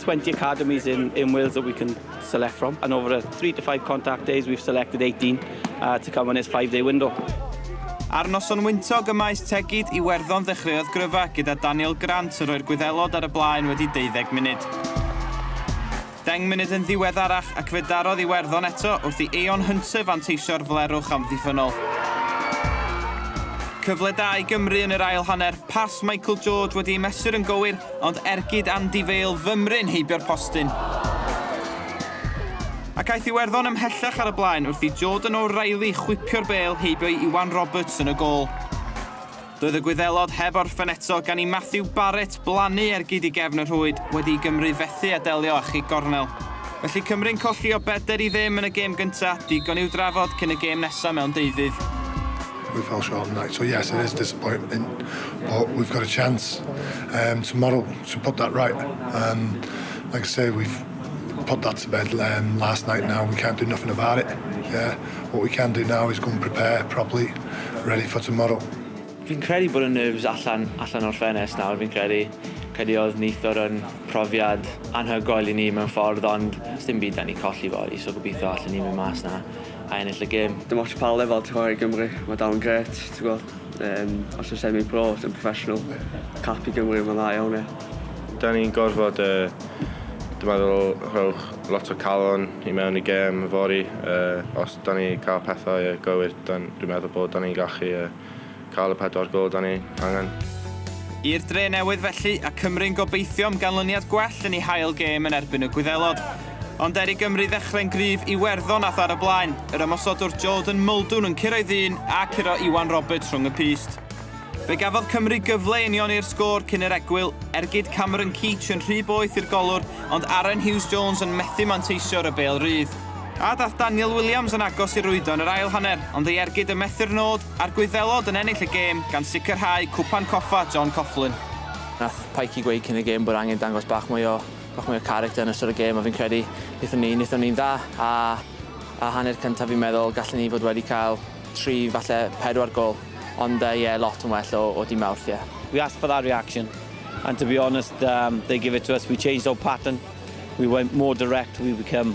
20 academies in, in Wales that we can select from and over a 3 to 5 contact days we've selected 18 uh, to come in this 5 day window. Ar noson wyntog y maes tegid i Werddon ddechreuodd gryfa gyda Daniel Grant yn rhoi'r gwyddelod ar y blaen wedi 12 munud. Deng munud yn ddiweddarach ac fe darodd i Werddon eto wrth i Eon Hunter fanteisio'r flerwch amddiffynol. Cyfle da i Gymru yn yr ail hanner, pas Michael George wedi ei mesur yn gywir Ond ergyd Andy Vale fymryn heibio'r postyn. Ac aeth Iwerddon ymhellach ar y blaen wrth i Jordan O'Reilly chwipio'r bêl heibio i Iwan Roberts yn y gôl. Doedd y Gwyddelod heb orffen eto gan i Matthew Barrett blannu ergyd i gefn y rhwyd wedi i Gymru fethu a delio â chig gornel. Felly Cymru'n colli o bedr i ddim yn y gêm gyntaf, digon i'w drafod cyn y gêm nesaf mewn deuddydd. We fell short on the night, so yes it is disappointing but we've got a chance um, tomorrow to put that right. Um, like I say, we've put that to bed um, last night now, we can't do nothing about it. Yeah. What we can do now is go and prepare properly, ready for tomorrow. Fi'n credu bod y nerves allan, allan o'r ffenest nawr, fi'n credu. Credu oedd neithwr yn profiad anhygoel i ni mewn ffordd, ond dim byd da ni colli fori, so gobeithio allan ni mynd mas na. a ennill y gêm. Dim ots pa lefel ti'n chwarae i Gymru, mae dal yn gret, ti'n gwybod. Um, os yw'n semi-pro, os yw'n professional, cap i Gymru, mae'n dda iawn, ie. Da ni'n gorfod, uh, dwi'n meddwl, rhowch lot o calon i mewn i gêm fori. Uh, os da ni cael pethau uh, gywir, dwi'n meddwl bod da ni'n gallu uh, Cael y pedwar gôl dan ni angen. I'r dre newydd felly, a Cymru'n gobeithio am ganlyniad gwell yn eu hail gêm yn erbyn y Gwyddelod. Ond er i Gymru ddechrau'n gryf, Iwerddon ath ar y blaen, yr ymosodwr Jordan Muldoon yn curo'i un a curo Iwan Roberts rhwng y pyst. Fe gafodd Cymru gyfle i unioni'r sgôr cyn yr egwyl, ergyd Cameron Keach yn rhy boeth i'r golwr, ond Aaron Hughes Jones yn methu manteisio'r y bêl rydd. A dath Daniel Williams yn agos i rwydo yn yr ail hanner, ond ei ergyd yn methu'r nod, A'r Gwyddelod yn ennill y gêm gan sicrhau Cwpan Coffa John Coughlin. Nath Pikey gweud cyn y gêm bod angen dangos bach mwy o bach mwy o character yn ystod y gêm a fi'n credu nethon ni nethon ni'n dda a a hanner cynta fi'n meddwl gallen ni fod wedi cael tri falle pedwar gol ond yy ie lot yn well o o dy Mawrth ie. We asked for that reaction and to be honest um they give it to us we changed our pattern we went more direct we become